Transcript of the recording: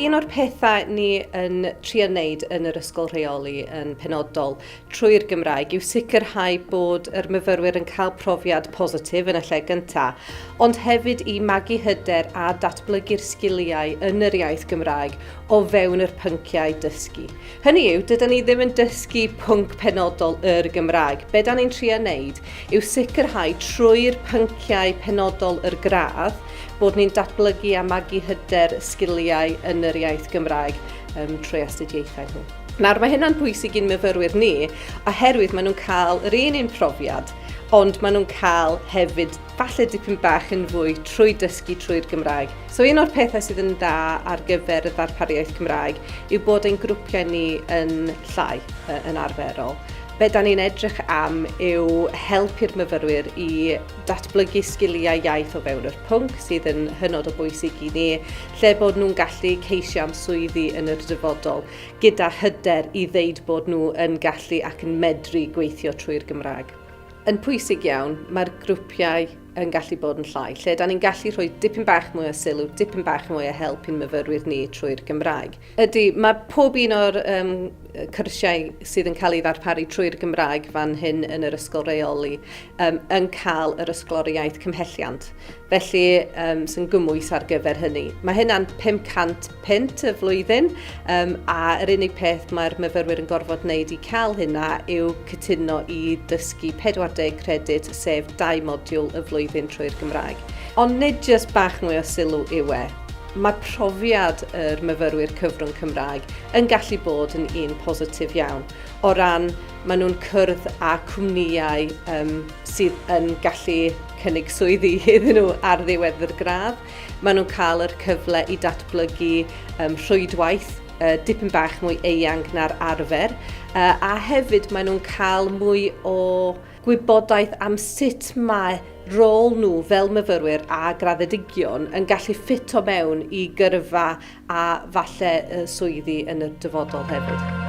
Un o'r pethau ni yn trio wneud yn yr ysgol rheoli yn penodol trwy'r Gymraeg yw sicrhau bod yr myfyrwyr yn cael profiad positif yn y lle gyntaf, ond hefyd i magu hyder a datblygu'r sgiliau yn yr iaith Gymraeg o fewn yr pynciau dysgu. Hynny yw, dyda ni ddim yn dysgu pwnc penodol yr Gymraeg. Be da ni'n trio wneud yw sicrhau trwy'r pynciau penodol yr gradd bod ni'n datblygu a magu hyder sgiliau yn yr iaith Gymraeg um, trwy astudiaethau nhw. Nawr, mae hynna'n bwysig i'n myfyrwyr ni, oherwydd maen nhw'n cael yr un un profiad, ond maen nhw'n cael hefyd falle dipyn bach yn fwy trwy dysgu trwy'r Gymraeg. So un o'r pethau sydd yn dda ar gyfer y ddarpariaeth Cymraeg yw bod ein grwpiau ni yn llai yn arferol. Be da ni'n edrych am yw helpu'r myfyrwyr i datblygu sgiliau iaith o fewn yr pwnc sydd yn hynod o bwysig i ni, lle bod nhw'n gallu ceisio am swyddi yn yr dyfodol, gyda hyder i ddeud bod nhw yn gallu ac yn medru gweithio trwy'r Gymraeg. Yn pwysig iawn, mae'r grwpiau yn gallu bod yn llai, lle da ni'n gallu rhoi dipyn bach mwy o sylw, dipyn bach mwy o help i'n myfyrwyr ni trwy'r Gymraeg. Ydy, mae pob un o'r um, cyrsiau sydd yn cael ei ddarparu trwy'r Gymraeg fan hyn yn yr ysgol reoli um, yn cael yr ysgoloriaeth cymhelliant. Felly, um, sy'n gymwys ar gyfer hynny. Mae hynna'n 500 punt y flwyddyn, um, a yr unig peth mae'r myfyrwyr yn gorfod wneud i cael hynna yw cytuno i dysgu 40 credyd, sef dau modiwl y flwyddyn trwy'r Gymraeg. Ond nid jyst bach mwy o sylw yw e, mae profiad yr myfyrwyr cyfrwng Cymraeg yn gallu bod yn un positif iawn o ran maen nhw'n cyrdd â cwmnïau um, sydd yn gallu cynnig swyddi iddyn nhw ar ddiwedd yr gradd. Maen nhw'n cael yr cyfle i datblygu um, rhwydwaith uh, dipyn bach mwy eang na'r arfer, uh, a hefyd maen nhw'n cael mwy o gwybodaeth am sut mae rôl nhw fel myfyrwyr a graddedigion yn gallu ffito mewn i gyrfa a falle y swyddi yn y dyfodol hefyd.